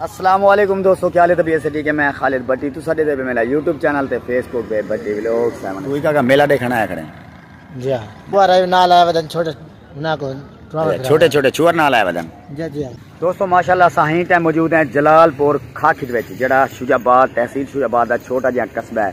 السلام علیکم دوستو کیا لے طبیعت سے ٹھیک ہے میں خالد بٹی تو ساڈے دے میرا یوٹیوب چینل تے فیس بک پہ بٹی ویلوگ سیون کوئی کا میلہ دیکھنا ہے کھڑے جی ہاں بوار ہے نال ہے ودن چھوٹے نا کو چھوٹے چھوٹے چھوڑ نال ہے ودن جی جی ہاں۔ دوستو ماشاءاللہ ساہیں تے موجود ہیں جلال پور کھاکھج وچ جڑا شجاع آباد تحصیل شجاع آباد دا چھوٹا جہاں قصبہ ہے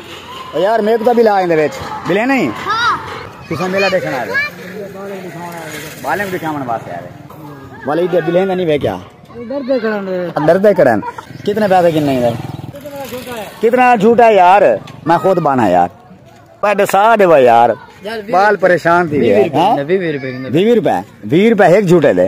یار میک تو بھی لا ایندے وچ بلے نہیں ہاں تساں میلا دیکھن آ گئے بالیں دکھاون واسطے آ گئے والے دے بلے نہیں وے کیا ڈر دے کرن ڈر دے کرن کتنے پیسے کن نہیں ہے کتنا جھوٹا ہے یار میں خود بانا یار پیڈ سا دے وا یار بال پریشان تھی گئے 20 روپے 20 روپے 20 روپے ایک جھوٹے دے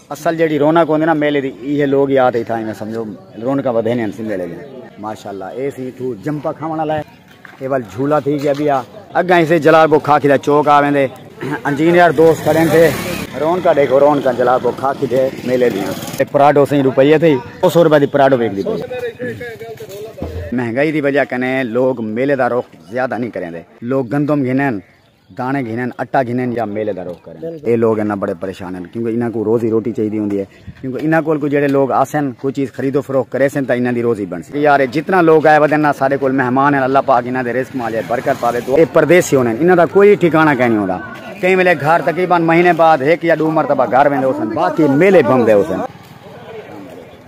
اصل جیڑھی رونق ہوندی نا میلے دی ایہے لوگ یاد ہی تھائیں سمجھو رونقاں ودھیندیاں ہن سی میلے دی ماشاءاللہ اے سی تھو جمپا کھاون والا ہے اے ول جھولا تھی گیا بیا اگاں اسے جلال کو کھا کھدا چوک آ ویندے انجینئر دوست کھڑے تھے رونقاں دیکھو رونقاں جلال کو کھا کھدے میلے دی اے پراڈو سیں روپیے تھی 200 روپے دی پراڈو ویک دی مہنگائی دی وجہ کنے لوگ میلے دا رخ زیادہ نہیں کریندے لوگ گندم گھنن داݨے گھنن، اٹا گھنن یا میلے دا رخ کرن۔ اے لوگ انہاں بڑے پریشان ہن کیونکہ انہاں کوں روزی روٹی چاہیدی ہوندی ہے کیونکہ انہاں کول کوئی جیڑھے لوگ آسن کوئی چیز خرید و فروخت کریسن تاں انہاں دی روزی بݨسی۔ اے یار اے جتنا لوگ آئے ودن نا ساڈے کول مہمان ہن اللہ پاک انہاں دے رزق ماجے برکت پاوے دعا۔ اے پردیسی ہوندن انہاں دا کوئی ٹھکانہ کائنی ہوندا کئی ویلے گھر تقریبا مہینے بعد ہک یا ڈو مرتبہ گھر ویندے ہوسن باقی میلے بھمدے ہوسن۔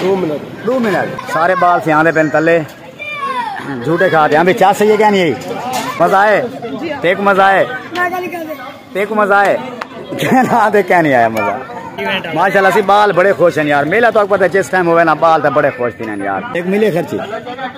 دو منٹ دو منٹ سارے بال سیاں دے پن تلے جھوٹے کھا دے ہاں بھی چاہ سہی ہے کیا نہیں مزہ آئے تے کو مزہ آئے تے کو مزہ آئے کہنا دے کیا نہیں آیا مزہ ماشاءاللہ سی بال بڑے خوش ہیں یار میلہ تو اکبر تے جس ٹائم ہوئے نا بال تے بڑے خوش تھی ہیں یار ایک ملے خرچی